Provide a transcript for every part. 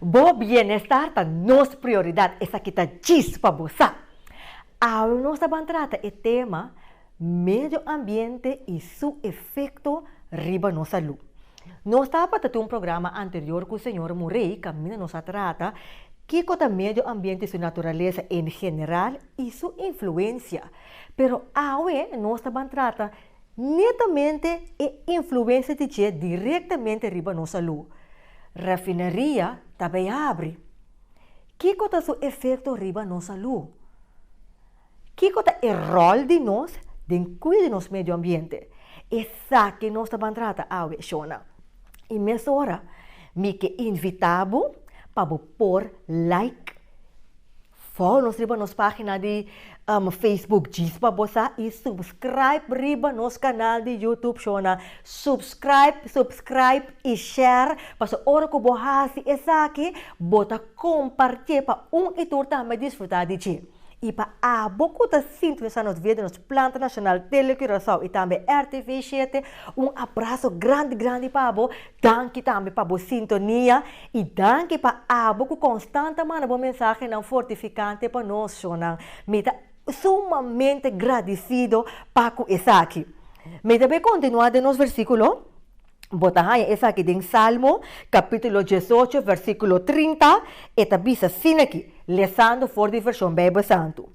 Bo bienestar ta nos prioridad, esaki ta djis pa bo sa. Awe nos ta ban trata e tema Medio ambiente y su efecto riba nos salú. Nos tabata tin un programa anterior cu señor Murray caminda nos a trata kico ta medio ambiente y su naturaleza en general y su influencia. Pero awe nos ta ban trata Netamente e influensia di dje direktamente riba nos salú. Rafinaria ta bai abri. Kiko ta su efekto riba nos salú? Kiko ta e ròl di nos den kuida nos medio ambiente? Esaki nos ta ban trata awe, shona. I mesora mi ke invitá bo pa bo por like. Follow nos riba nos pagina di Facebook Djis pa bo sa y subscribe riba nos canal di YouTube Shona subscribe subscribe y share paso ora cu bo haci esaki bo ta compartie pa un y tur tambe disfruta di dje. Y pa abo cu ta sintonisa nos via di nos Plan Trnacional Tele Curacao y tambe RTV Siete un abrazo grandi grandi pa bo danki tambe pa bo sintonia I danki pa abo ku konstant a manda bo mensahenan fortifikante pa nos shonnan. Mi ta sumamente gradisido pa ku esaki. Meda bo e kontinuá den nos versíkulo? Bo ta haña esaki den Salmo, kapítulo dies ocho, versíkulo trinta. E ta bisa asin'aki, lesando for di Vershon Beibel Santu.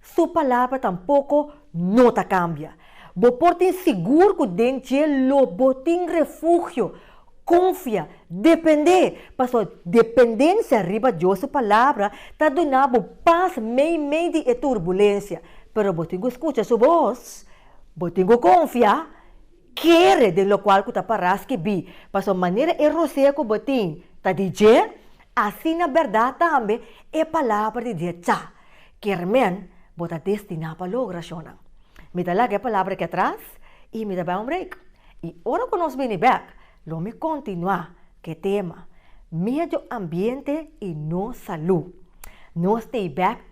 Su palabra tampoco no ta cambia. Bo por tin sigur cu den dje lo bo tin refugio, confia, depende, pasobra dependencia riba Dios su palabra ta duna bo paz meimei di e turbulencia. Pero bo tin cu scucha su voz, bo tin cu confia, kere den locual cu ta para skibí, pasobra manera e rosea cu bo tin ta di dje, Asina berdad tambe e palabra di Dios ca kermen bo ta destiná pa logra ashonnan. Mi ta laga e palabra aki atras i mi ta bai un break. I ora ku nos bini bèk, lo mi kontinuá ku e tema, Medio ambiente i nos salú. Nos ta e bèk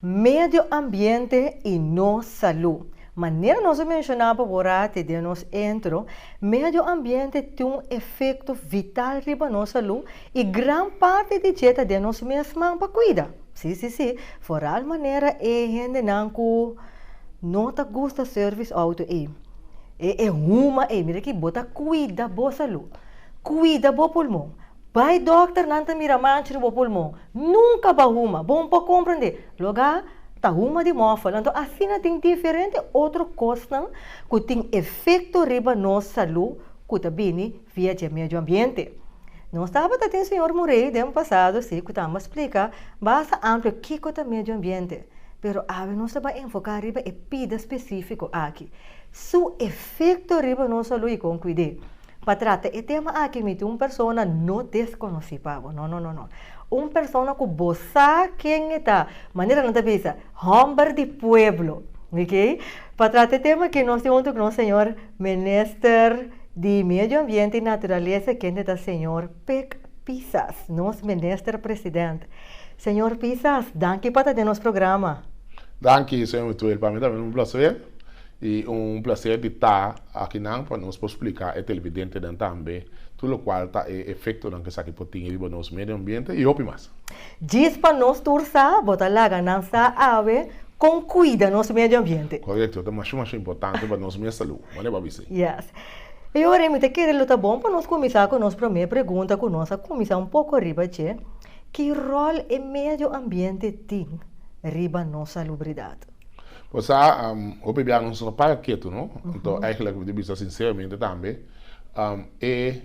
Medio ambiente y nos salú. Manera nos a mencioná pa Borate den nos intro, medio ambiente tin un efecto vital riba nos salú y gran parti di dje ta den nos mesman pa cuida. Sí, sí, sí, foral manera e hendenan cu no ta gusta service auto ey, e huma ey, mira aki, bo ta cuida bo salú, cuida bo pulmon. Bai dokter nan ta mira mancha di bo pulmon nunka ba huma bon por comprende loga ta huma di mofel anto asina tin diferente otro cosnan cu tin efecto riba nos salu cu ta bini via dje medio ambiente nos tabata tin señor Murray den pasado si cu ta amba splica basa amplo kico ta medio ambiente pero awe nos ta bai enfoca riba e pida specifico aki su efecto riba nos salu y con cuide. Pa trata e tema aki mi tin un persona no desconoci pa bo, no, no, no, no. Un persona cu bo sa ken e ta, manera nan ta bisa, homber di pueblo, ok. Pa trata e tema aki nos tin hunto cu nos señor Minister di Medio Ambiente y Naturaleza, kende ta señor Pik Pisas, nos Minister President. Señor Pisas, danki pa ta den nos programa. Danki, señor Tuel. Pa mi tambe un placer. I un placer di ta aki nan pa nos por splica e televidentenan tambe tur locual ta e efectonan cu esaki por tin riba nos medio ambiente y hopi mas. Djis pa nos tur sa, bo ta laga nan sa awe con cuida nos medio ambiente. Correcto, ta masha masha importante pa nos mes salud, manera bo a bici. Yes. E ora mi ta kere lo ta bon pa nos cuminsa cu nos prome pregunta cu nos a cuminsa un poco riba dje, Ki rol e medio ambiente tin riba nos salubridad? Bo sa, hopi bia nos no para ketu, no? Anto, eigenlijk, di bisa sinseramente tambe, e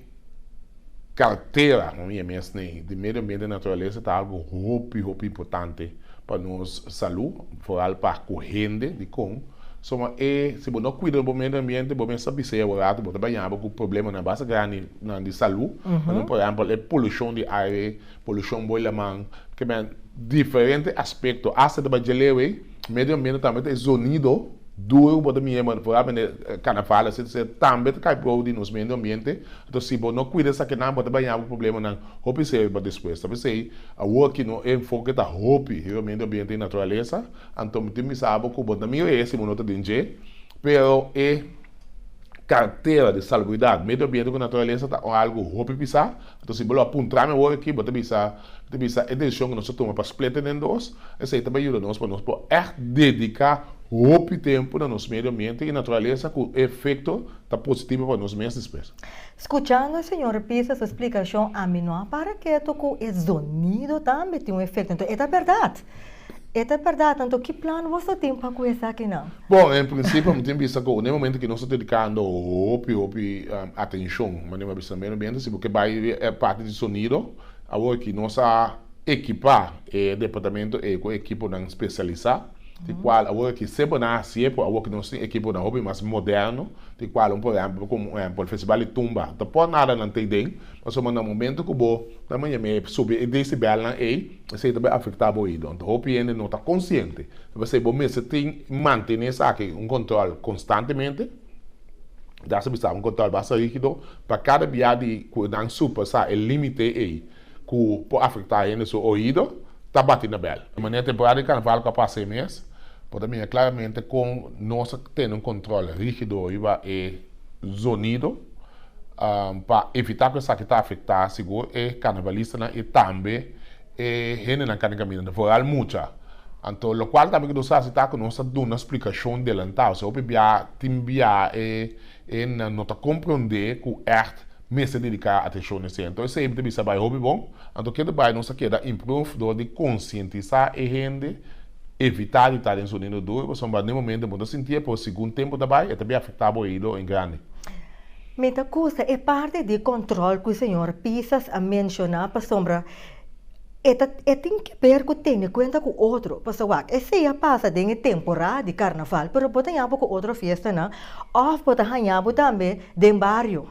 kartera, no? Mi e mes nei, di medio ambiente i naturalesa ta algo hopi, hopi importante pa nos salú, foral pa ku hende. Dikon? Suma e, si bo no kuida bo medio ambiente, bo mes ta bisa e aworato bo ta baña bo ku problemanan basta grandinan di salú, pa duna, por ehèmpel, e polushon di aire. Polushon Boi Laman. Kemen diferente aspekto. Asta ta Bajaleau ei, medio ambiente tambe ta e zonido duru ku bo ta mira vooralmente karnaval asina. Esei tambe ta kai prou di nos medio ambiente. Entos si bo no kuida esakinan bo ta baña bo ku problemanan hopi seri pa despues. Tal bes esei awor aki nos enfoke ta hopi riba medio ambiente i naturalesa. Anto mi tin ku bisa bo ku bo ta mira ese bo no ta den dje. Pero e kartera di salubridat, medio ambiente ku naturalesa ta un algu hopi pisá. Anto si bo lo a puntra mi awor aki, bo ta bisa, mi ta bisa e decision ku nos a tuma pa splete den dos, esei ta bai yuda nos pa nos por ègt dediká hopi tempu na nos medio ambiente i naturalesa ku e efekto ta positivo pa nos mes despues. Skuchando e señor Pisa su splikashon, ami no a para ketu ku e zonido tambe tin un efekto. Enton e ta bèrdat! E ta bèrdat, anto ki plan boso a tin pa ku esakinan? Bon, en prinsipio mi tin bisa ku un e momentu ku nos ta dedikando hopi hopi atenshon, manera mi a bisa meramente si bo ke bai e parti di sonido, awor ki nos a ekipá e departamento ei ku ekiponan spesialisá, di kual awor ki esei bo na hasié pues awor ki nos tin ekiponan hopi mas moderno, di kual un por ehèmpel komo un ehèmpel festival di tumba no ta por nada nan ta ei den, pasobra na momentu ku bo ta manera mi subi e desibèlnan ei, Esei ta bai afektá bo oído. Anto hopi hende no ta konsiente. I p'esei bo mester tin mantené esaki un kòntròl konstantemente. I ta hasi bisá un kòntròl basta rígido pa kada bia di ku nan surpasá e límite ei ku por afektá hende su oído, ta bati na bèl. E manera temporada di karnaval ku a pasa e mes por ta mira klaramente kon nos a tene un kòntròl rígido riba e zonido. Pa evitá ku esaki ta afektá sigur e karnavalistanan i tambe e hendenan kan di kaminda, foral mucha. Anto lokual tambe ku nos hasi ta ku nos ta duna splikashon delantá. Ose hopi biaha tin biaha e hendenan no ta komprondé ku ègt mester dediká atenshon esei. Anto esei mi ta bisa bai hopi bon. Anto kende bai nos ta keda improve dor di konsientisá e hende. Evitá di ta den sonido duru pasobra pa den momento bo ta sinti e pero segun tempu ta bai e ta bin afektá bo oido en grandi. Mi ta kusa e parti di kòntròl ku señor Pisas a menshoná pasobra e ta e tin ke ber ku tene kuenta ku otro pasobra wak esei a pasa den e temporá di karnaval pero bo ta yaña bo ku otro fiestanan òf bo ta haña bo tambe den bario.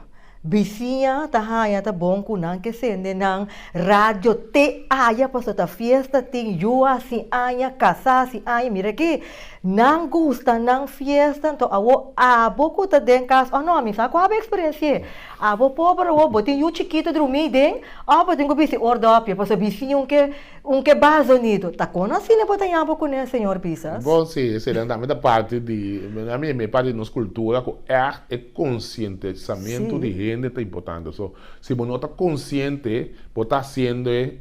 Bisiña ta haña ta bon ku nan ke sende nan radio te aya paso ta fiesta tin yu hasi aña kasá hasi aña mira aki nan gusta nan fiesta anto awo abo ku ta den kas o no mi sa ku abo eksperensi'e abo pober awo bo tin yu chikitu drumí den o bo tin ku bisi or dòpia paso bisiña un ke Un ke bas donido. Ta kon asina bo ta yambo kuné señor Bisas? Bon si, e sera nan mi ta parti di, nan mi e parti di nos kultura ku ègt e konsientisamentu di hende ta importante. So si bo no ta konsiente bo ta hasiendoe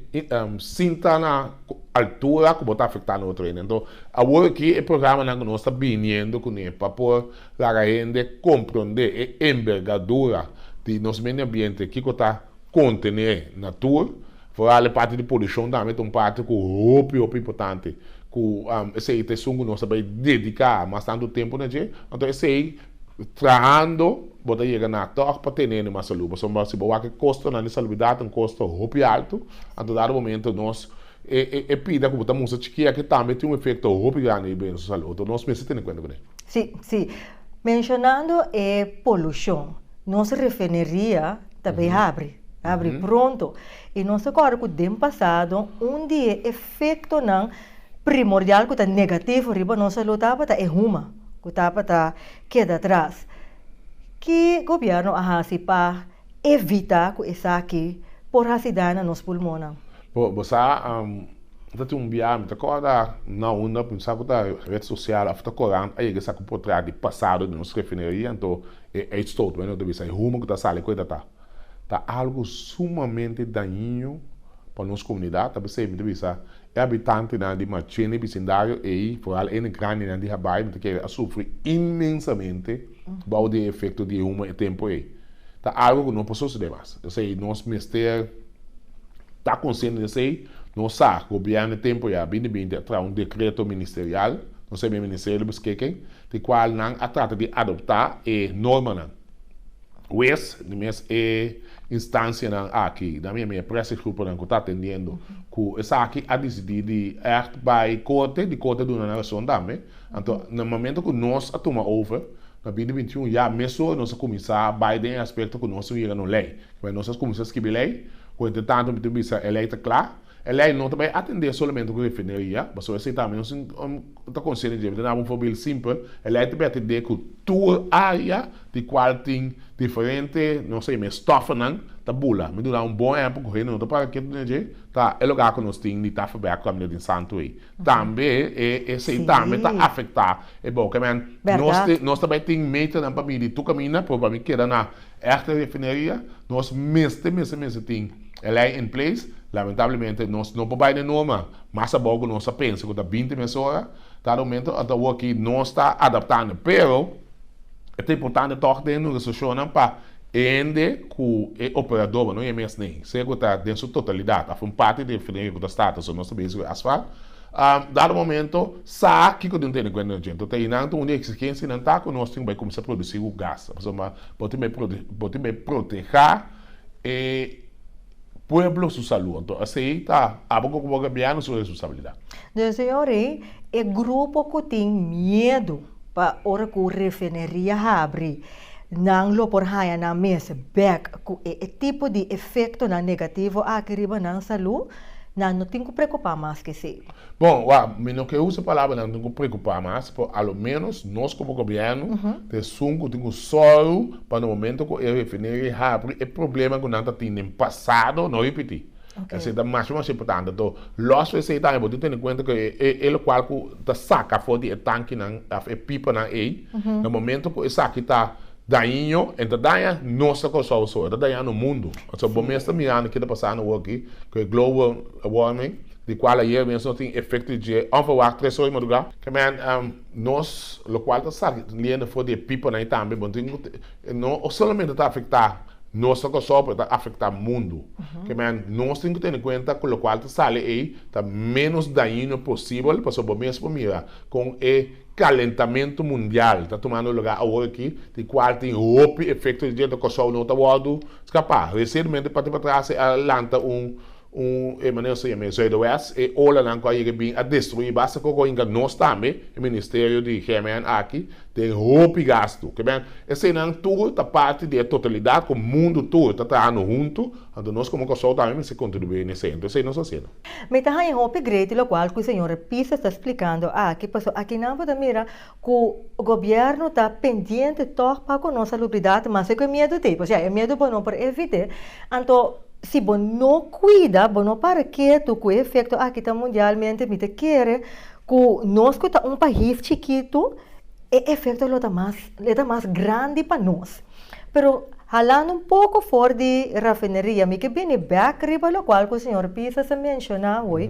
sin ta na altura ku bo ta afektando otro hende. Anto awor aki e programanan ku nos ta biniendo kuné pa por laga hende komprondé e enbergadura di nos medio ambiente kiko ta. Kontené natur, foral e parti di polushon tambe ta un parti ku hopi hopi importante ku esei ta esun ku nos ta bai dediká mas tantu tempu na dje. Anto esei trahando bo ta yega na tòg pa tene ende mas salú pasobra si bo wak e kostonan di saluidat un kosto hopi altu anto dado momento nos e e pida ku bo ta mustra chiki'e aki tambe tin un efekto hopi grandi riba den su salú anto nos mester tene kuenta kuné. Sí, sí. Menshonando e polushon, nos refineria ta bai habri, habri pronto. I nos ta kòrda ku den pasado un di e efektonan primordial ku ta negativo riba nos salú tabata e huma ku tabata keda atras. Ki gobièrnu a hasi pa Evita cu esaki por haci daño na nos pulmonnan. Bo, bo sa, mi ta tin un biaha, mi ta corda na unda cu mi sa cu ta red social of ta corant, a yega esaki un portret di pasado di nos refineria, anto e uitstoot cu nos ta bisa, e humo cu ta sali cu eta ta, ta algo sumamente dañino pa nos comunidad, ta p'esey mi ta bisa, E habitantenan di Machén i bisindario ei, foral ene grandinan di Habai, no ta kere, a sufri inmensamente bou di e efekto di e humo e tempu ei. Ta algu ku no por sosodé mas. P'esei nos mester ta konsiente di esei. Nos sa gobièrnu e tempu ya a bini binti a traha un dekreto ministerial, no sebe e Ministerio di Beskiking, di kual nan a trata di adoptá e normanan. Wes, di mes e instancianan aki, dam e mea press e gruponan cu ta atendiendo, cu esaki a dicidi di echt bay corte, di corte duna nan razon tambe. Anto, na momento cu nos a tuma over, na bini bintiun ya mesun nos a cuminsa bay den e aspecto cu nos tin yega na un ley. Kiba nos a cuminsa skibi ley, cu entretanto mi tin bisa e ley ta cla, e ley no ta bay atende solamente cu refineria, pasobra esey tambe nos tin un, Bo ta konsente dje bida na bo fobil simpel, el ei ta bete dje ku tur área di kual tin diferente, no sé, mes stòfnan ta bula. Mi duna un bon ehèmpel ku hende no ta para ketu den dje, ta e lugá ku nos tin di Tafelberg ku Camino di Santu ei. Tambe e esei tambe ta afektá e bou. Kèmen nos ta bai tin meternan pa midi tur kaminda, pero pa mi keda na Echte refineria nos mester mester mester tin e lei in place, lamentablemente nos no por bai den Noma mas abou cu nos a pensa cu ta binti mes ora, cada momento anta awo aki nos ta adaptando pero e ta importante toch den nos restriccionnan pa e hende cu e operadornan no y e mes ni, sea cu ta den su totalidad of un parti di e refineria cu ta starta so nos ta bezig cu e asfalt, A dado momento, sa kiko tin tene kuenta nos djento ta i nan ta un di e eksigensianan ta ku nos tin bai kuminsá produsí ku gas, pasobra bo tin bai bo tin bai protehá e pueblo su salú. Anto asei ta abo ku bo gobièrnu su responsabilidat. Djunto e ora ei e grupo ku tin miedu. Pa ora ku refineria habri, nan lo por haña nan mes bèk ku e tipo di efektonan negativo aki riba nan salú, nan no tin ku preokupá mas ku esei. Bon, wak, mi no ke usa palabra nan tin ku preokupá mas, pero a lo ménos nos komo gobièrnu ta esun ku tin ku sòru pa na momentu ku e refineria habri e problema ku nan ta tin den pasado no ripití. Esei ta masha mas importante to. Lòs fu esei tambe bo tin tene kuenta ku e lokual ku ta saka afó di e tankinan òf e pipanan ei, na momentu ku esaki ta daiño, e no ta daña nos ta Kòrsou so, e ta daña nos mundu. Pasobra bo mes ta mirando ke ta pasá na wòrdu aki ku e global wòrming, di kual ayer mes nos tin efekto di dje ònverwacht tres ora di madrugá. Kman, nos lokual ta saka liendo afó di e pipanan ei tambe bo tin. E no solamente ta afecta nos ta Kòrsou, pero ta afecta mundo. Kieman nos tin cu tene cuenta cu locual ta sali ey ta menos dañino posibel, pasobra bo mes por mira con e calentamento mundial ta tumando lugar awor aki, di cual tin hopi efecto di djenta Kòrsou no ta wordo scapa. Recientemente, parti patras, e a lanta un. Un hermanel sa yam'é Zuiderwes, E olanan ku a yega bin a destruí basta ku goinga nos tambe, e ministerio di GMN aki, den hopi gastu. Kiben? Eseinan tur ta parti di e totalidat ku mundu tur ta trahando huntu, anto nos komo Kòrsou tambe mester kontribuí n'esei. Anto esei nos a hasiendo. Mi ta haña hopi greiti lokual ku señor Pisa ta splikando aki, pasobra akinan bo ta mira ku gobièrnu ta pendiente tòg pa ku nos salubridat mas ke ku e miedu t'ei. Osea, e miedu bo no por evit'é. Anto si bo no kuida, bo no para ketu ku e efekto aki ta mundialmente, mi ta kere ku nos ku ta un pais chikitu e efekto lo ta mas lo ta mas grandi pa nos. Pero halando un poko for di rafineria mi ke bini bèk riba lokual ku señor Pisa ta menshoná hoy.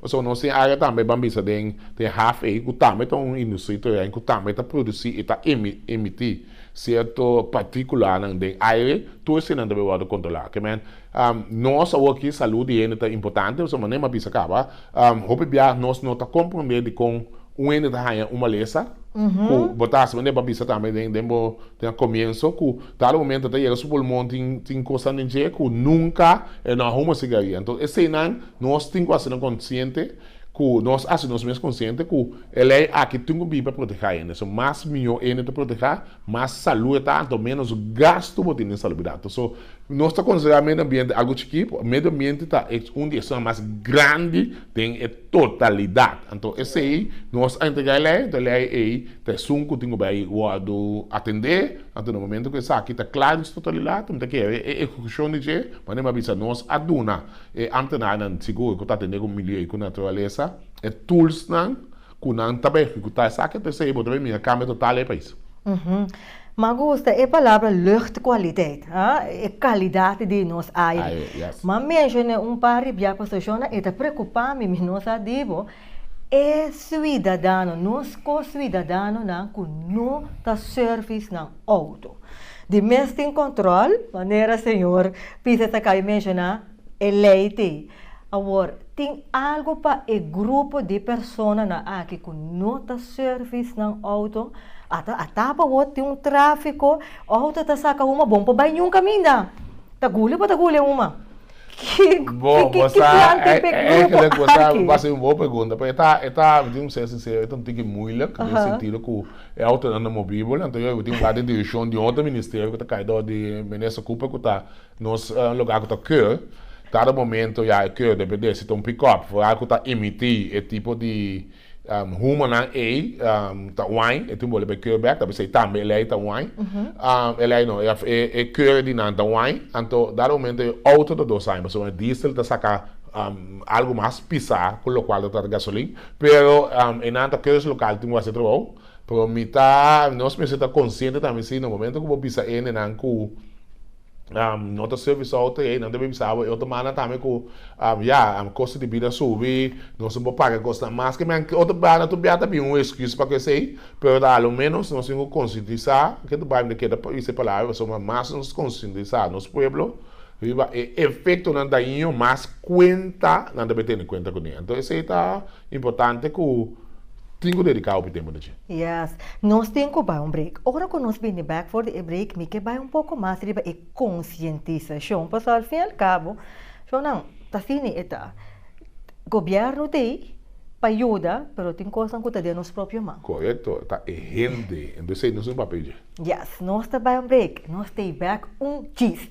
Pasobra nos tin área tambe ban bisa den den haf ei ku tambe ta un industria italiano ku tambe ta produsí i ta emití sierto partíkulanan den aire, tur eseinan ta por wòrdu kontrolá. Ke men, nos awor aki salú di hende ta importante pasobra manera mi a bisa kaba, hopi biaha nos no ta komprondé dikon un hende ta haña un malesa ku bo ta hasi manera bo a bisa tambe den bo den komienso ku, Cada momento ta yega su pulmon tin tin cosnan den dje cu nunca e no a huma cigaria. Enton eseynan nos tin cu hacinan consciente cu nos haci nos mes consciente cu e ley aki tin cu bin pa proteha hende. So mas miho hende ta proteha mas salud e ta anto menos gasto bo tin den salubidat. So nos ta considera medio ambiente algo chiki medio ambiente ta e un di esnan mas grandi den e. totalidad. Anto esei nos a entrega e ley, anto e ley ei ta esun cu tin cu bay wordo atende, anto na momento cu esaki ta cla den su totalidad mi ta ke haber e ejecucion di dje manera mi a bisa, nos a duna e ambtenarenan sigur cu ta atende cu milieu y cu naturaleza e toolsnan cu nan ta bay ejecuta esaki, anto esei bo ta bay mira cambio total den e pais. Ma gusta e palabra luchtkwaliteit, a, e kalidat di nos aire. Aire, yes. Ma menshoné un par di bia pasacionnan, e ta preokupá mi, mi no sa di bo, e suidadano, nos ko-suidadanonan ku no ta sèrvis nan outo. Di mes tin kòntròl, manera señor Pieter ta kaba menshoná, E lei di awor tin algu pa e grupo di personanan aki ku no ta sèrvis nan outo. Ata a ta pa wòrdu tin un tráfiko, outo ta saka uma bon pa bai ñun kaminda. Ta guli o pa ta guli uma? Ki plan tin pa e grupo aki? Bo sa, bo hasi un bon pregunta. Pues e ta, e ta, mi tin ku ser sinsero, e ta un tiki muilik den e sentido ku e outonan ta movibel. Anto yoy bo tin un par di dirishon di otro ministerio ku ta kai dor di Minister Cooper ku ta. Nos lugar cu ta keur, cada momento ya e keur debe deci ta un pick-up, vooral cu ta emiti e tipo di humonan ey, ta whine, e tin boli bay keur bek, ta bisey tambe eley ta whine, eley no, e keur di nan ta whine, anto dado momento e auto ta dos aña, pasobra e diesel ta saca algo mas pisa cu locual ta trata gasolin, pero enan ta keur su local tin cu a haci e trabao. Pero mi ta, nos mester ta consciente tambe si na momento cu bo bisa endenan cu no ta service auto y eynan ta bay bisa bo e otro mana tambe cu ya costo di bida subi, nos por paga e cosnan mas que men otro banda tur bia ta bin un excuse pa cu esey, pero ta alo menos nos tin cu conscientisa, ke ta bay mi ta keda isa e palabra pasobra midan mas nos conscientisa nos pueblo riba e efectonan daño mas cuenta nan ta bay tene cuenta cun'e. Enton esey ta importante cu. Tin cu dedica hopi tempo na dje. Yes. Nos tin cu bay un break. Ora cu nos bini bek for di e break mi ke bay un poco mas riba e concientisacion. Pasobra al fin y al cabo, shownan, ta asini e ta. Gobierno ta ey pa yuda, pero tin cosnan cu ta den nos propio man. Correcto. Ta e hende. Entonces ey no es un papel dje. Yes. Nos ta bay un break. Nos ta ey bek un chis.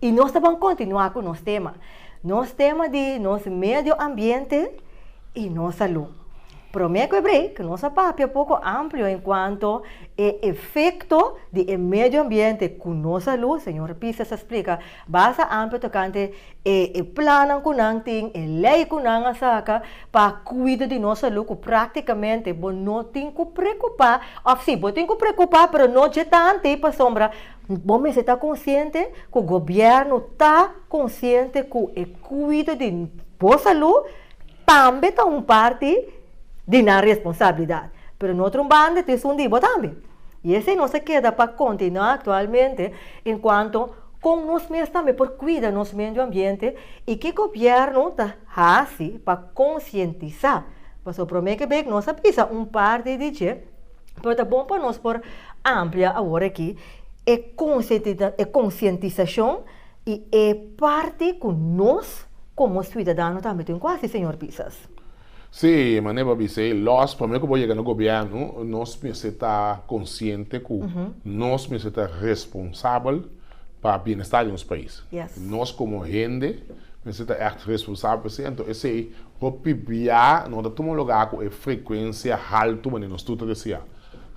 Y nos ta ban continua cu nos tema. Nos tema di nos medio ambiente y nos salud. Prome cu e break nos a papia poco amplio en cuanto e efecto di e medio ambiente cu nos salud. Señor Pisces a splica basa amplio tocante e e plannan cu nan tin, e ley cu nan a saca pa cuida di nos salud cu practicamente bo no tin cu preocupa of si bo tin cu preocupa pero no dje tanti pasobra Bo mester ta konsiente ku gobièrnu ta konsiente ku e kuido di bo salú tambe ta un parti di nan responsabilidat. Pero no otro banda ta esun di bo tambe. I esei nos a keda pa kontinuá aktualmente en kuanto kon nos mes tambe por kuida nos medio ambiente i ke gobièrnu ta hasi pa konsientisá. Pasobra promé ke bek nos a bisa un parti di dje. Pero ta bon pa nos por amplia awor aki e konsientisashon i e parti ku nos komo siudadano tambe tin ku hasi, señor Pisas. Sí, manera bo a bisa, lòs promé ku bo yega na gobièrnu, nos mester ta konsiente ku nos mester ta responsabel pa bienestar di nos pais. Nos komo hende Mester ta ègt responsabel pa esei, anto esei por pipia no ta tuma lugá ku e frekuensia haltu manera nos tur ta deseá.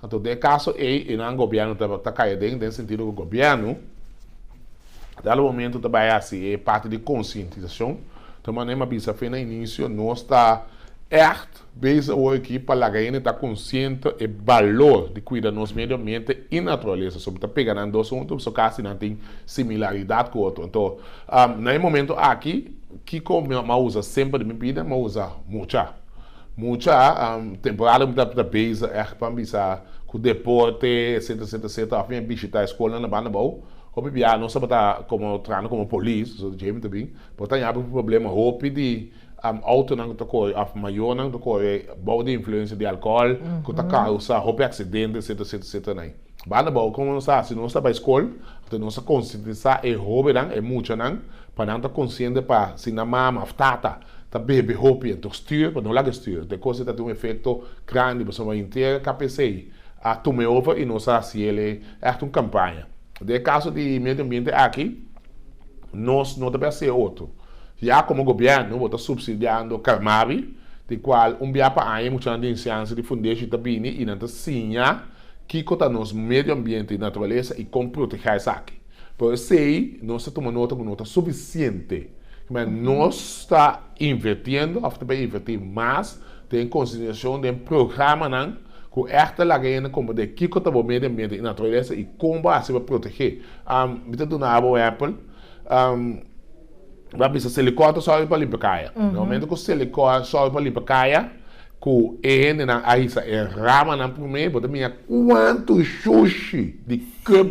Anto den e kaso ei, e nan gobièrnu ta ta kai aden, den sentido ku gobièrnu ta lo momentu ta bai hasi e parti di konsientisashon, ta manera mi a bisa afe na inisio, nos ta ègt. Base a oe aki, pa laga hende ta konsiente e balor di kuida nos medio ambiente i naturalesa. So mi ta pega nan dos huntu pasobra kasi nan tin similaridat ku otro. Anto, na e momento aki, kiko mi a usa semper den mi bida? Mi a usa mucha. Mucha, temporada ku mi ta ta base ègt pa bisa ku deporte, etsetera, etsetera, etsetera, òf mi a bishitá e skolnan na banda bou. Hopi biaha nos tabata komo trahando komo polis, pasobra dje mi ta bin, por ta yabi problema hopi di. Autonan ku ta kohe òf mayonan ku ta kohe bou di influensia di alkohòl ku ta kausa hopi aksidente etcetera etcetera etcetera na ei. Banda bou komo nos ta hasi? Nos ta bai skol, after nos ta konsientisá e hobennan, e muchanan pa nan ta konsiente pa si nan mama òf tata ta bebe hopi entok stür pa no laga e stür. Te kos ei ta tin un efekto grandi pasobra henter e KPC a tuma e over i nos a hasi el e ègt un kampaña. Den e kaso di medio ambiente aki. nos no ta bia hacé otro. Ya como gobierno bo ta subsidiando Carmabi, di cual un bia pa aña muchanan den cianci di Fundeshi ta bini y nan ta siña kico ta nos medio ambiente y naturaleza y con protegé esaki. Pero esey nos ta tuma nota cu no ta suficiente, cimer nos ta invertiendo of ta bia inverti mas, Ten konsideracion den programanan cu echt ta laga hende comprende kico ta bo medio ambiente y naturalesa y con bo haci pa protege. Mi ta duna abo un epel. Mi a bisa Selikor ta sòrbi pa limpa kaya. Na momento cu Selikor a sòrbi pa limpa kaya, cu e hendenan a hisa e ramanan prome, bo ta mira cuanto shushi di cup,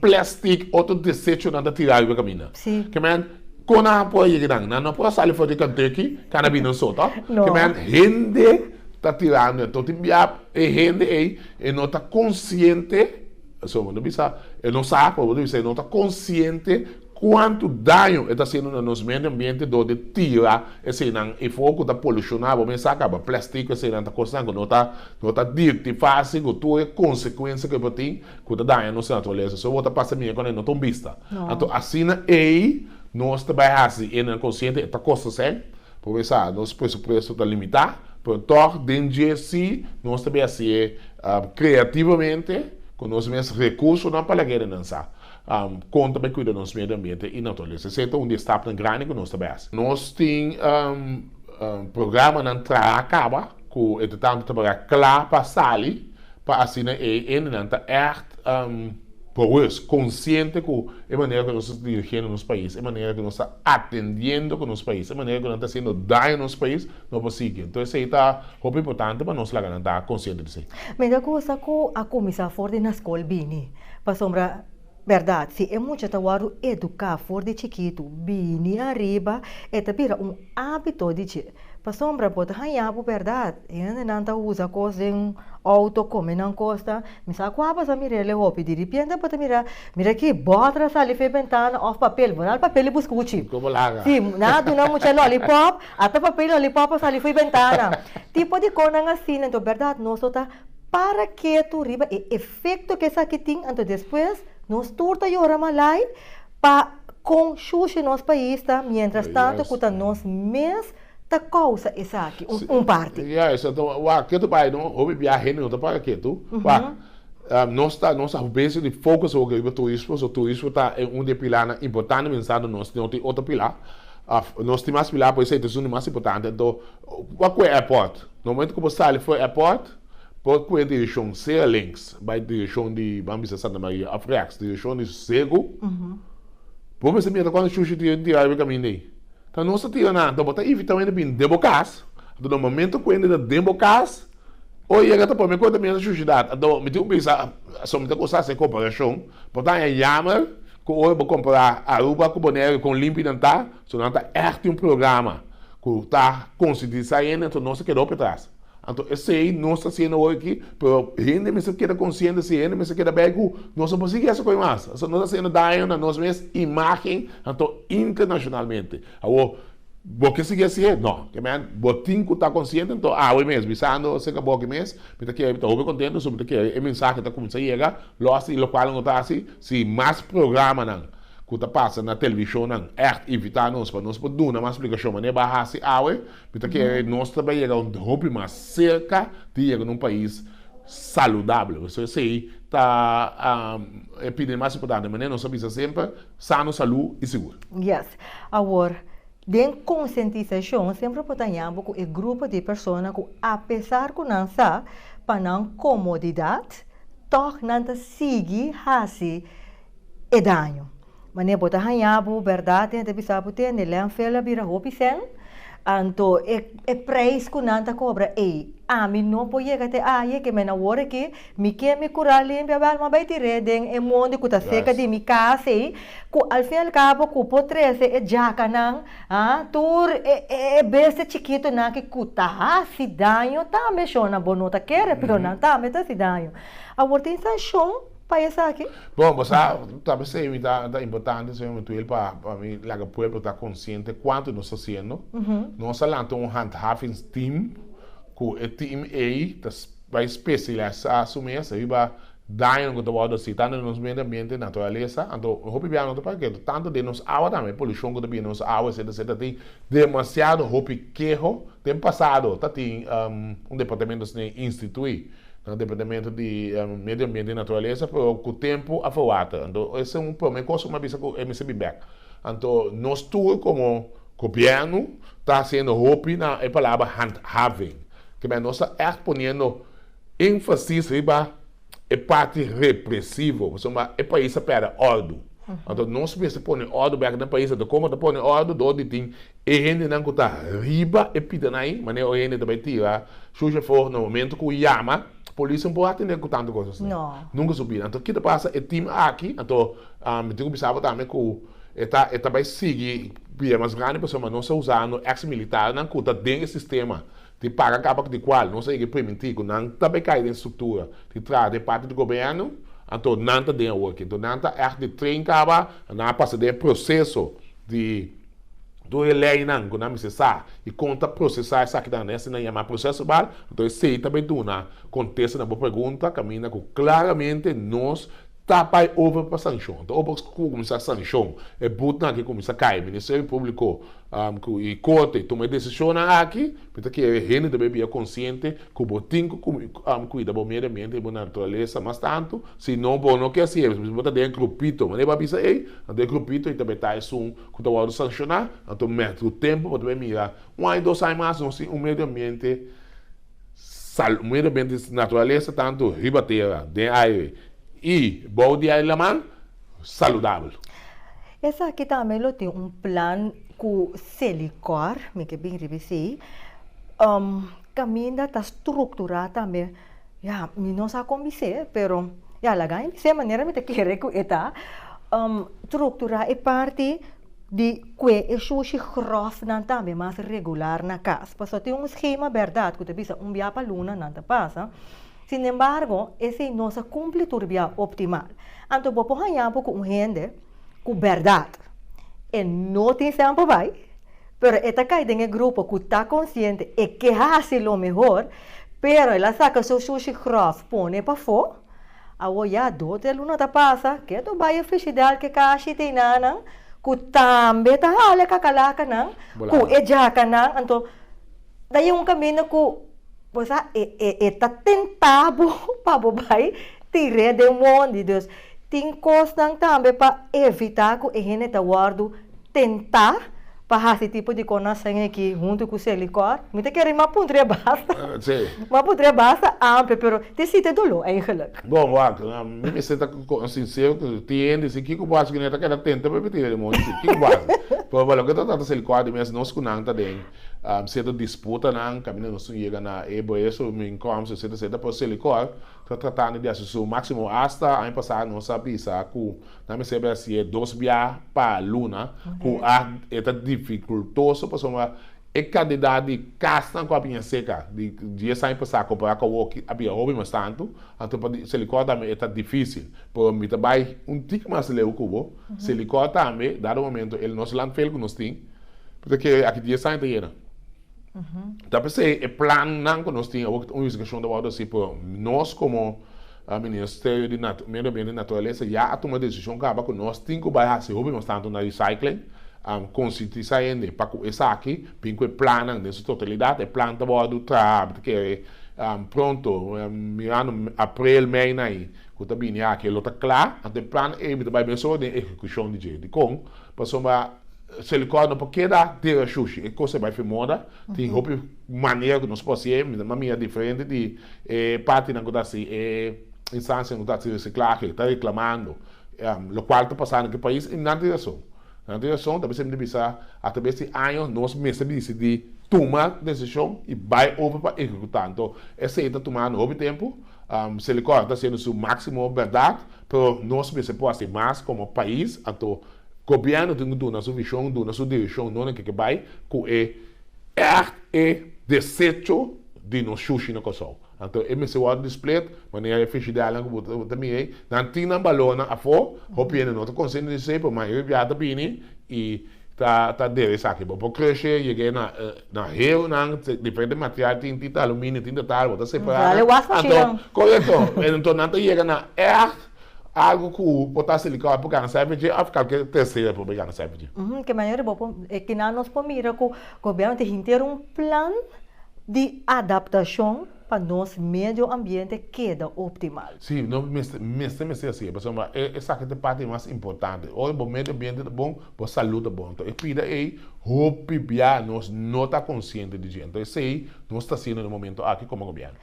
plastic, otro desechonan ta tira ariba caminda. Ke men? Con nan a por yega nan? Nan no por a sali for di canteu aki can a bini nosotros. No. Kema nan hende ta tirando e toti bia e hende ei e no ta consciente, eso bo ta bisa, e no sa, pero bo ta bisa e no ta consciente cuanto daño e ta haciendo na nos medio ambiente door di tira eseinan efo cu ta poluciona, bo mester a caba plastico eseinan ta cosnan cu no ta no ta dirti facil cu tur e consecuencia cu e por tin. ku ta daña nos naturalesa. So bo ta pasa miedu kuantu e no ta un bista. Anto asina ei nos ta bai hasi e nan konsiente e ta kosta esei por mesa nos presupuesto ta limitá, pero tòg den dje si nos ta bin hasi e kreativamente ku nos mes rekursonan pa laga e renan sa kon ta bai kuida nos medio ambiente i naturalesa. Esei ta un di e stapnan grandi ku nos ta bai hasi. Nos tin programanan traha kaba ku entre tantu ta paga kla pa sali Pa asina e hendenan ta ègt bogus, konsiente ku e manera ku nos ta dirigiendo nos pais, e manera ku nos ta atendiendo ku nos pais, e manera ku nan ta hasiendo daño nos pais, no por sigui. Enton esei ta hopi importante pa nos laga nan ta konsiente di esei. Mira kusa ku a kuminsá for di na skol bini. Pasobra. Berdad, si e mucha ta wòrdu eduká for di chikitu bini ariba, e ta bira un ábito di dje. Pasobra bo ta hañá bo berdad, e hendenan ta usa kos den outo kome nan kosta. Mi sa kua bo sa mir'é le hopi. Diripiente bo ta mira, mira akí, bòtra sali fen bentana òf papel. Bo na al papel i buska uchi. Ku bo laga. Sí, nan a duna mucha lòlipòp, ata papel i lòlipòp a sali fo'i bentana. Tipo di kosnan asina. Enton berdad nos lo ta. Para ketu riba e efekto ku esaki tin anto despues nos tur ta yora malai pa kon shushi nos pais ta mientras tanto ku ta nos mes ta kousa esaki un parti. Ya esaki wak ketu bai no hopi biaha hende no ta para ketu wak nos ta nos ta besi di focus hopi riba turismo so turismo ta un di e pilanan importante mientras tanto nos no tin otro pilar nos tin mas pilar por eso e ta esun di mas importante anto Wak ku e airport. Na momento ku bo sali for e airport, por kue dirishon sea links, bai dirishon di, ban bisa Santa Maria, of reaks, dirishon di Segu. Bo mester mira kuantu shushi di hende tira riba e kaminda ei. Ta nos ta tira na anto, bo ta evitá hende bin den bo kas. Anto na momento ku hende ta den bo kas, o yega ta prome kos ta mira shushi dat. Anto mi tin ku bisa, asun mi ta kusa hasi e komparashon, bo ta haña yamer ku ora bo kompra Aruba ku Bonaire kon limpi nan ta. So nan ta ègt un programa ku ta konsientisa hende, anto nos a keda hopi atras. Anto esei nos ta hasiendo hoy aki, pero hende mester keda konsiente si, hende mester keda bai ku nos no por sigui hasi koe mas. Esei nos ta hasiendo daño na nos mes imágen, anto internashonalmente. Awor, bo ke sigui hasié? No. Keman bo tin ku ta konsiente, anto awe mes, bisando aserka bo aki mes, mi ta kere, mi ta hopi kontento pasobra mi ta kere e mensahe ta kuminsá yega lo hasi, lokual nan lo ta hasi si mas programanan, ku ta pasa na televishonnan ègt invitá nos pa nos por duna mas splikashon mane bo a hasi awe. Mi ta kere nos ta bai yega un hopi mas serka di yega na un pais saludabel. Por eso esei ta e piden mas importante. Mane nos a bisa semper, sano, salú i sigur. Yes. Awor, den konsientisashon semper por ta ña bo ku e grupo di persona ku apesar ku nan sa pa nan komodidat, tòg nan ta sigui hasi. e daño. Manera bo ta haña bo bèrdat den e ta bisa bo tende lènfel a bira hopi sèn, anto e preis ku nan ta kobra ei ami no por yega te aye ke men awor aki mi ke mi kural limpia bel mi a bai tir'é den e monde ku ta seka di mi kas ei ku al fin al kabo ku por trese e jakanan a tur e bestia chikitonan aki ku ta hasi daño tambe shona bo no ta kere pero nan tambe ta hasi daño awor tin sanshon. pa esaki? Bon, bo sa, ta p'esei mi ta ta importante, señor Metuel, pa pa mi laga pueblo ta consciente cuanto nos ta haciendo. Nos a lanta un handhavingsteam cu e team ei ta s- bai specialisa su mes ta biba daño cu ta wordo haci tanto den nos medio ambiente, naturaleza. Anto hopi bia no ta para keto, tanto den nos awa tambe, polucion cu ta bini den nos awa etcetera etcetera. Tin demasiado hopi keho. Den pasado ta tin un departamento institui. Na Departamento di Medio Ambiente y Naturalesa pero cu tempo a for water anto esa un prome cos cu mi a bisa cu e mester bin bek anto nos tur como gobierno ta haciendo hopi na e palabra handhaving kibera nos ta echt poniendo enfasis riba e parti represivo pasobra e pais a perde ordu anto nos mester pone ordu bek na pais anto como ta pone ordu door di tin. E hendenan ku ta riba e pitan ai, manera oye hende ta bai tira shusha for na momento ku yama, polis no por atende ku tantu kosas nei. Nunka subi. Anto ki ta pasa e tim aki? Anto mi tin ku bisa bo tambe ku e ta e ta bai sigui bia mas grandi pasobra mas nos a usa no eks militarnan ku ta den e sistema di paga kabak di kual nos a yega primintí ku nan ta bai kai den struktura di traha den parti di gobièrnu, anto nan ta den awor aki. Anto nan ta ègt di train kaba, nan a pasa den e proseso di. Tur e leinan ku nan mester sa i kon ta prosesá esakinan na esei nan yama proses verbal. Anto esei ta bai duna kontesta na bo pregunta kaminda ku klaramente nos ta bai over pa sanshon. Ta over ku bo kuminsá sanshon e butnan akí kuminsá kai. Ministerio Públiko i Korte tuma e desishonnan akí Bo ta kere hende ta bia konsiente ku bo tin ku kuida bo medio ambiente i bo naturalesa mas tantu, si no bo no ke hasi esei pasobra bo ta den e grupito. Mane bo a bisa ei? Anto e grupito ei ta beta esun ku ta wòrdu sanshoná. Anto mèt ku tempu bo ta bin mira un aña dos aña mas nos tin un medio ambiente un medio ambiente, naturalesa tantu riba tera, den aire i bou di aire laman. saludabel. Esaki tambe lo tin un plan ku Selikor, mi ke bin riba esei. Um, kaminda ta strukturá tambe. Ya, mi no sa kon bis'é, pero ya laga mi bis'é manera mi ta kere ku e ta. Um, strukturá e parti di kue e shushi gròfnan tambe mas regular na kas. Paso tin un skema bèrdat ku ta bisa un bia pa luna nan ta pasa. Sin embargo, esei no sa cumpli tur bia optimal. Anto bo por haña bo cu un hende cu berdad e no tin stem pa bay, pero e ta cay den e grupo cu ta consciente e ke haci lo mehor, pero el a saca su sushi grof pone pafo, awor ya do, tres luna ta pasa, ke tur baye frigidel ke kashi te enanan cu tambe ta hala e kakalacanan cu e jacanan, anto. Ta e un camino cu bo sa e ta tenta bo pa bo bay tire den won di Dios. Tin cosnan tambe pa evita cu e hende ta wordo tenta pa haci tipo di con nos hende aki hunto cu su licor. Mi ta kere mas puntra basta, mas puntra basta amper pero tin siti dolo eigenlijk. Bon wak, mi mester ta sincero cu tin hende dici kico bo haci cu nan e ta keda tenta pa e tira den won di Dios? Kico bo haci? Pero lo cu e ta trata su licor di mes nos cu nan ta den. Seta disputanan kaminda nos tin yega na e boeso min Comce seta seta pero Selicor ta tratando di hasi su maximo hasta aña pasado nos a bisa cu nan mester a haci'e dos biaha pa luna cu aht e ta dificultoso pasobra e cantidad di casnan cu a bini a seca di dies aña pasado compara cu awoki a bira hopi mas tanto anto pa Selicor tambe e ta dificil pero mi ta bay un tiki mas leu cu bo Selicor tambe dado momento el nos landfill cu nos tin P'esei ke aki dies aña ta yega. Ta p'esei e plannan ku nos tin awor ku ta un investigashon ta wòrdu hasi p'e nos komo Ministerio di Medio Ambiente i Naturalesa ya a tuma desishon kaba ku nos tin ku bai hasi hopi mas tantu na recycling, konsientisá hende pa ku esaki bin ku e plannan den su totalidat. E plan ta wòrdu traha, mi ta kere pronto, mirando aprel, mei na ai ku ta bini aki e lo ta kla. Anto e plan ei mi ta bai mesora den ekekushon di dje. Dikon? Pasobra. Silikon no por keda den e shushi. E kos a bai firmoda. Tin hopi manera ku nos por hasié. Mi ta mira diferente di e partinan ku ta hasi e instancianan ku ta hasi resiklahe ta reklamando lo kual ta pasando ku e pais i nan tin rason. Nan tin rason ta mester mi bisa atraves di año nos mester bisa di tuma desishon i bai over pa ekekutá. Anto esei ta tumando hopi tempu. Silikon a hasiendo su máksimo bèrdat pero nos mester por hasi mas komo pais anto. Gobièrnu tin ku duna su vishon, duna su direkshon no na ke ke bai ku e ègt e desecho di nos shushi na Kòrsou. Anto e mester wòrdu displet manera e frishidernan ku bo ta mira ei, nan tin nan balònan afó, hopi hende no ta konsente di esei, pero mayoria bia ta bini i ta ta dera esaki. Bo por krushe yega na na heonan, diferente material tin, tin ta aluminio, tin ta tal, bo ta separá nan, anto korekto, anto nan ta yega na ègt. Algu ku por ta hasi likau e por gana sèvi dje òf kalke tercero e por bai gana sèvi dje? Ke manera e bo por, e kinan nos por mira ku gobièrnu tin hinter un plan di adaptashon pa nos medio ambiente keda optimal? Sí, no mester, mester mester hasié, pasobra e esaki ta e parti mas importante. Ora bo medio ambiente ta bon, bo salú ta bon. Enton e pida ei hopi bia nos no ta konsiente di dje. Enton esei nos ta hasiendo den e momentu aki komo gobièrnu.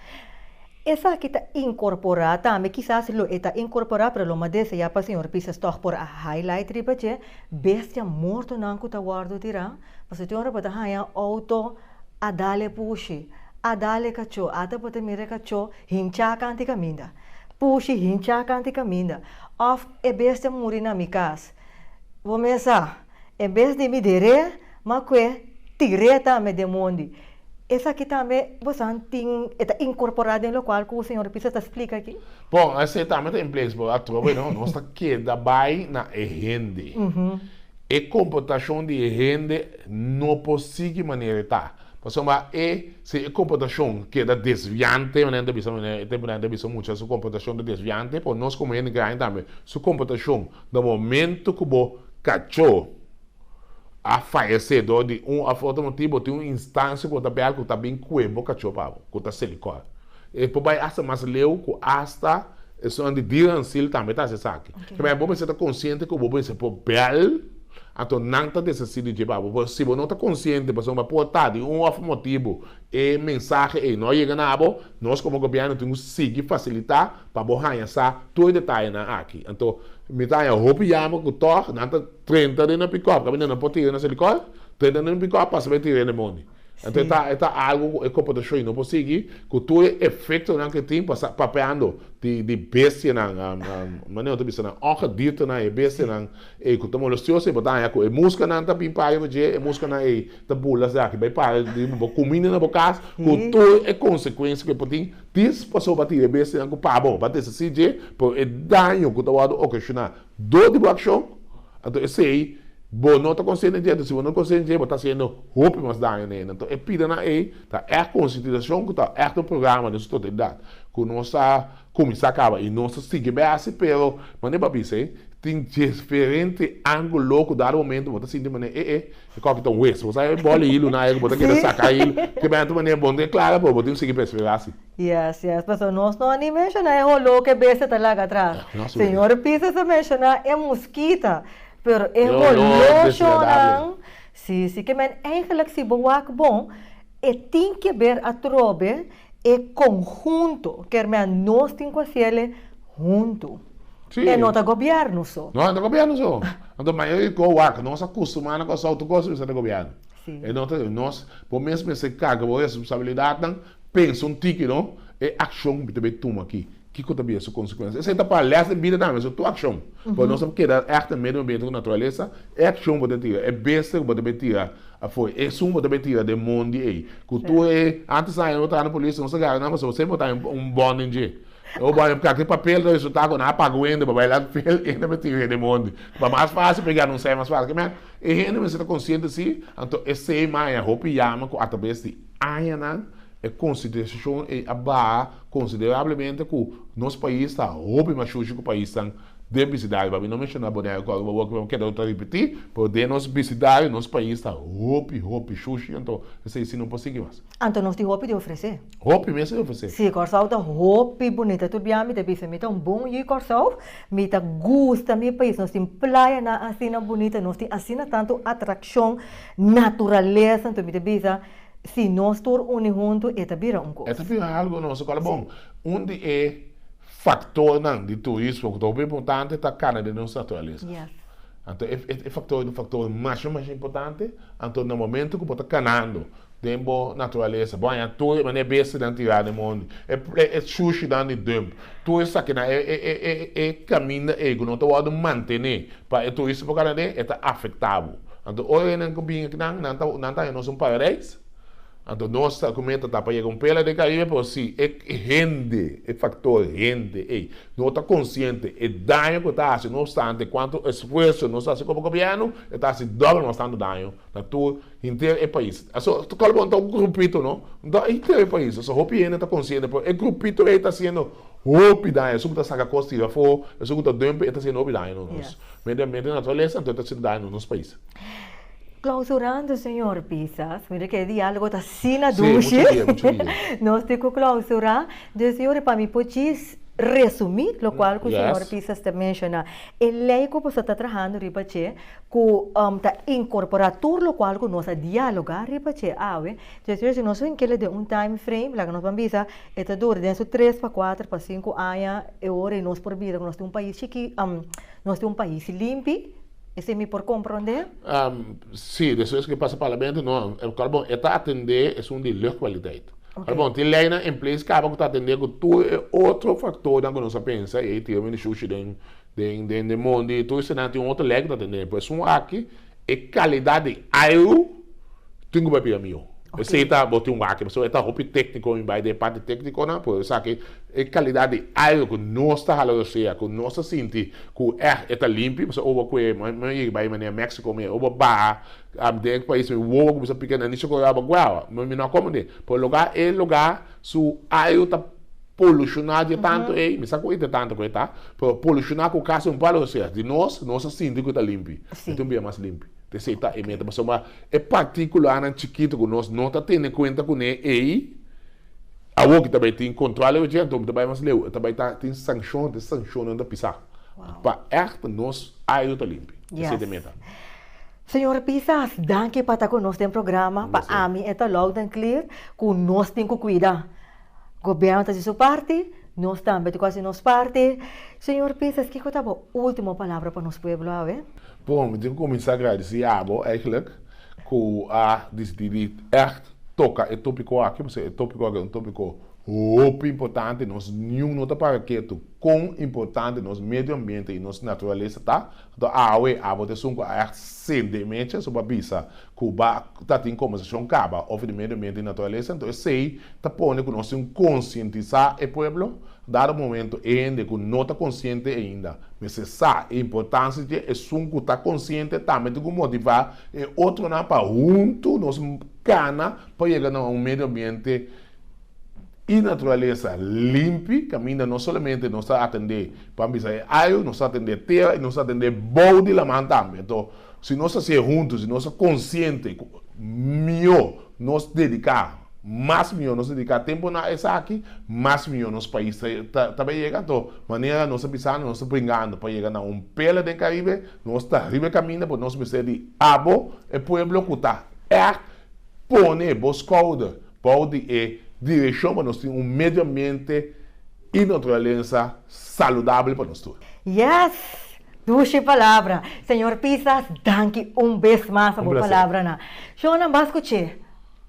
Esaki ta incorpora tambe, kisas lo e ta incorpora pero lo mas desea pa señor Pisas tog por a highlight riba dje, bestia mortonan cu ta wordo tira, pasobra tin ora bo ta haya auto a dale pushi, a dale cacho, ata bo ta mira e cacho hincha kanti caminda, pushi hincha kanti caminda, of e bestia muri na mi cas, bo mesa en bes di mi dere. Ma kue tir'é ta mi demondi. Esaki tambe bo sa tin e ta inkorporá den lokual ku señor Pisa ta splika aki? Bon, esei tambe ta implees bo atrobe, no? Nos ta keda bai na e hende. E komportashon di e hende no por sigui manera e ta. Pasobra e, si e komportashon keda desviante, manera nan ta bisa mi awe, e tempu nan ta bisa mucha su komportashon ta desviante, por nos komo hende graña tambe, su komportashon na momentu ku bo kachó, a faya se dor di un of otro motibo tin un instancia cu bo ta bel cu ta bin cue bo cacho pa bo cu ta seli cor e por bay hasta mas leu cu hasta esun di día ancil tambe ta haci esaki kiba bo mester ta consciente cu bo mester por bel anto nan ta desaci di dje pa bo pero si bo no ta consciente pasobra bo a por ta di un of motibo e mensahe ey no yega na bo nos como gobierno tin cu sigui facilita pa bo haya sa tur e detayenan aki anto mi ta haya hopi jammer cu tog nan ta. Trenta den nan pickup caminda nan por tira nan sali cohe, trenta den nan pickup pasa bay tira e lemoni. Anto e ta e ta algo cu e computacion no por sigui cu tur e efectonan cu e tin pasa papeando di di bestianan manera otro bisa nan ongediertenan e bestianan ey cu ta molestioso y bo ta haña cu e muscanan ta bin para riba dje e muscanan ey ta bula si aki bay para riba bo cuminda na bo cas cu tur e consecuencia cu e por tin tin pasobra tira e bestianan cu pa bo bo a desisir dje pero e daño cu ta wordo ocasiona Dor di bo akshon, anto esei bo no ta konsientencia enton si bo no ta konsientencia bo ta hasiendo hopi mas daño na hende. Anto e pidanan ei ta ègt konsientisashon ku ta ègt un programa den su totalidat ku nos ta kuminsá kaba i nos ta sigui bai hasi pero manera bo a bisa ei tin diferente angulo ku dado momento bo ta sinti manera e e E koki ta un wes. Bo sa e bòl e hilu nai ku bo ta keda saka hilu. Te benta manera bon den klara bo, bo tin sigui perseverá si. Yes, yes. Pasobra nos no a ni menshoná e holó ku e bestia ta laga atra. Señor Pisa ta menshoná e muskita, pero e holó shonnan, si, si. Ke men, eingelik si bo wak bon, e tin ke ber atrobe E conhunto, ker mea nos tin cu a ciele hunto. Sí. E no ta gobierno so. No, e no gobierno so. Anto mayoria di co wak nos a custumá na Curaçao tur cos bisa di gobierno. Sí. E no ta, nos, bo mes mester carga bo responsabilidadnan, pensa un tiki, no? E accion bo ta bay tuma aki. Kiko ta bin e su konsekuensia? Esei ta para lès den bida tambe, so tur akshon. Pasobra nos a keda ègt den medio ambiente ku naturalesa, e akshon ku bo ta tira, e besta ku bo ta bai tira afoi, esun ku bo ta bai tira den mon di ei, ku tur e, antes aña no tabata polísio, nos a gara nan pasobra semper tabata un, un bòn den dje. O bo a hab kaki papel ta resultá ku nan a paga un hende pa bai la papel, e hende a bai tira ei den mon di. Pa mas fásil pa e gara un sèi mas fásil. Kemey? E hende mester ta konsiente si, anto esei maña hopi yama ku a ta besti añanan. E konsiderashon ei a baha konsiderablemente ku nos pais ta hopi mas shushi ku paisnan den bisidario. Mi no menshoná Bonaire kòrda bo wòrdu, pero mi keda lo ta ripití, pero den nos bisidario nos pais ta hopi, hopi shushi. Anto esei si no por sigui mas. Anto nos tin hopi di ofresé. Hopi mes di ofresé. Sí, Kòrsou ta hopi bunita tur biaha. Mi ta bisa mi ta un bon yu Kòrsou. Mi ta gusta mi pais. Nos tin playanan asina bunita. Nos tin asina tantu atrakshon, naturalesa. Anto mi ta bisa Si nos tur uni huntu e ta bira un kos. E ta bira algu nos e kòl a bon. Un di e faktornan di turismo ku ta hopi importante ta kana den nos naturalesa. Anto e e faktor e ta faktor mas men mas importante. Anto na momentu ku bo ta kanando den bo naturalesa bo haña tur e manera bestianan tirá den mondi. E e shushinan di dump. Tur esaki na e kaminda ei ku no ta wòrdu mantené pa e turista por kada den, e ta afektá bo. Anto ora e nan ku bini ku nan, nan ta, nan ta haña nos un paradijs. Anto nos ta kume ta ta pa yega un pela den Karibe, pero si e hende, e faktor hende ei no ta konsiente e daño ku e ta hasi, no obstante kuantu esfuerso nos ta hasi komo gobièrnu, e ta hasi dòbel mas tantu daño na tur. Hinter e pais. So, kal bo ta grupito, no? Ta hinter e pais. So, hopi hende ta konsiente, pero e grupito ei ta hasiendo hopi daño. Esun ku ta saka kos tir afó, esun ku ta dùmpe, e ta hasiendo hopi daño nos. Mende, mende di naturalesa, anto e ta hasiendo daño na nos pais. Klausurando, señor Pisas. Mira ku e diálogo ta asina dushi. Nos tin ku klausurá. Entonces, señor, e pa mi por djis resumí lokual ku señor Pisas ta menshoná. E lei ku boso ta trahando riba dje, ku ta inkorporá tur lokual ku nos a dialogá riba dje awe, dje dje si nos bin kila den un time frame laga nos ban bisa e ta dura den su tres pa kuater pa sinku aña e ora i nos por bisa ku nos tin un pais chikí nos tin un pais limpi, esei mi por komprondé? Sí, despues ku e pasa parlamento no, kal bon e ta atendé esun di luchtkwaliteit. Kal bon tin leinan en place kaba ku ta atendé ku tur e otro faktornan ku nos a pensa i ei tira men di shushi den. Den den den mondi e tur esena tin un otro lek ta tende por esun aki e kalidad di airu tin ku bai bira mihó esei ta bo tin wak pasobra e ta hopi tekniko mi bai den e parti teknikonan por esaki e kalidad di airu ku nos ta hala rosea ku nos ta sinti ku èh e ta limpio pasobra oba kue mi bai manera Mexico mi oba baha den e pais mi wowo ku bisa pika nan ni sokorawa guawa mi no a komo den por loga e loga su airu ta. Polushoná dje tantu ei, mi sa ku ei ta tantu ku ei ta, pero polushoná ku kasi un palo, osea, di nos, nos a sinti ku e ta limpi. Mi ta un bia mas limpi. Te sei ta e meta pasobra e partíkulanan chikitu ku nos no ta tene kuenta kuné ei, awor ku ta bai tin kontrol dje ei, anto mi ta bai mas leu, e ta bai ta tin sankshon, te sankshonan ta pisá. Pa ègt nos airu ta limpi. Te sei ta e meta. Señor Pisas, danki pa ta ku nos den programa. Pa ami e ta loud and clear ku nos tin ku kuida. Gobierno ta hasi su parti, nos tambe tin cu hasi nos parti. Señor Peters, kico ta bo ultimo palabra pa nos pueblo awe? Bon, mi tin cu cuminsa agradeci abo eigenlijk cu a dicidi di echt toca e topico aki, pasobra e topico aki ta un topico hopi importante. Nos niun no ta para ketu con importante nos medio ambiente y nos naturalesa ta. Anto awe abo ta esun cu a echt sende e mecha so pa bisa. ku ba ta tin kombersashon kaba over di medio ambiente i naturalesa, anto esei ta pone ku nos tin konsientisá e pueblo. Dado momento e hende ku no ta konsiente ainda mester sa e importansia dje, esun ku ta konsiente tambe tin ku motivá e otronan pa huntu nos kana pa yega na un medio ambiente i naturalesa limpi, kaminda no solamente nos ta atendé pabia e ayu, nos ta atendé tera i nos ta atendé bou di laman tambe. Anto. Si nos ta siña huntu, si nos ta konsiente ku mihó nos dediká, mas mihó nos dediká tempu na esaki, mas mihó nos pais ta ta bai yega. To manera nos ta bisando, nos ta pringando pa yega na un pela den Karibe, nos ta riba e kaminda but nos mester di abo e pueblo ku ta ègt pone bo skouder bou di e direkshon pa nos tin un medio ambiente, I naturalesa saludabel pa nos tur. Yes! Dushi palabra! Señor Pisas, danki un bes mas pa bo palabranan. Shonnan bas kuch'é.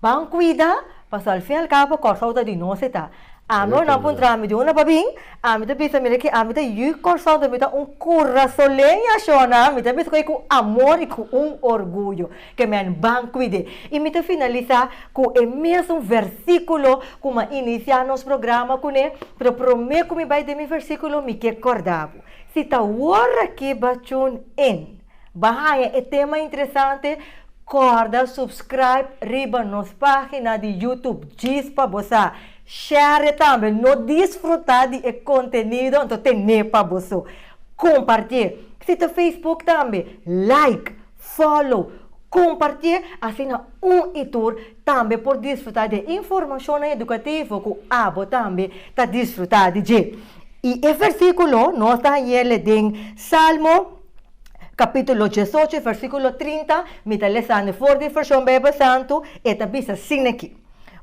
Ban kuida, paso al fin al cabo Kòrsou ta di nos e ta. Ami ora nan por entra mi duna pa bin, ami ta bisa mira ke ami ta yu Kòrsou ta mi ta un kurasoleña, shonnan mi ta bisa ku e ku amor i ku un orguyo. Ke men ban kuid'é. I mi ta finalisá ku e mesun versíkulo ku mi a inisiá nos programa kuné, pero promé ku mi bai den mi versíkulo mi ke kòrda bo. Si ta wòrdu akí ba tune in, ba haña e tema interesante, kòrda subscribe riba nos página di YouTube djis pa bo sa. Shère'é tambe, no disfrutá di e kontenido anto ten'é pa bo so. Komparti'é. Si ta Facebook tambe, like. Follow, Kompartié asina un i tur tambe por disfrutá di e informashonnan edukativo ku abo tambe ta disfrutá di dje. I e versíkulo no ta yele den Salmo kapítulo diesocho versíkulo trinta, mi ta lesando for di Vershon Beibel Santu, e ta bisa sin aki,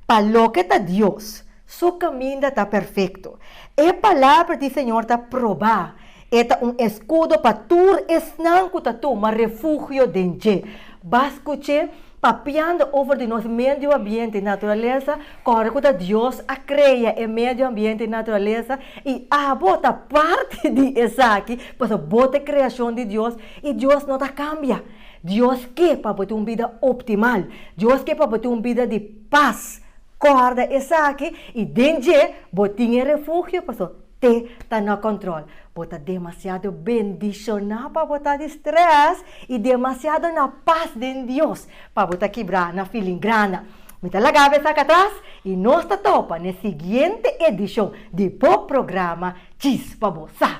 Pa loke ta Dios, su kaminda ta perfekto, e palabra di Señor ta probá, E ta un eskudo pa tur esnan ku ta tuma refugio den dje. Bas kuché papiando over di nos medio ambiente i naturalesa, kòrda ku ta Dios a krea e medio ambiente i naturalesa i abo ta parti di esaki, pasobra bo ta e kreashon di Dios i Dios no ta kambia. Dios ke pa bo tin un bida optimal. Dios ke pa bo tin un bida di pas. Kòrda esaki i den dje bo tin e refugio, pasobra. Te ta na control. Bo ta demasiado bendiciona pa bo ta di stress y demasiado na paz den Dios pa bo ta kibra na feeling grana. Mi ta laga be saca atras y nos ta topa n'e siguiente edicion di bo programa Chis pa bo sa.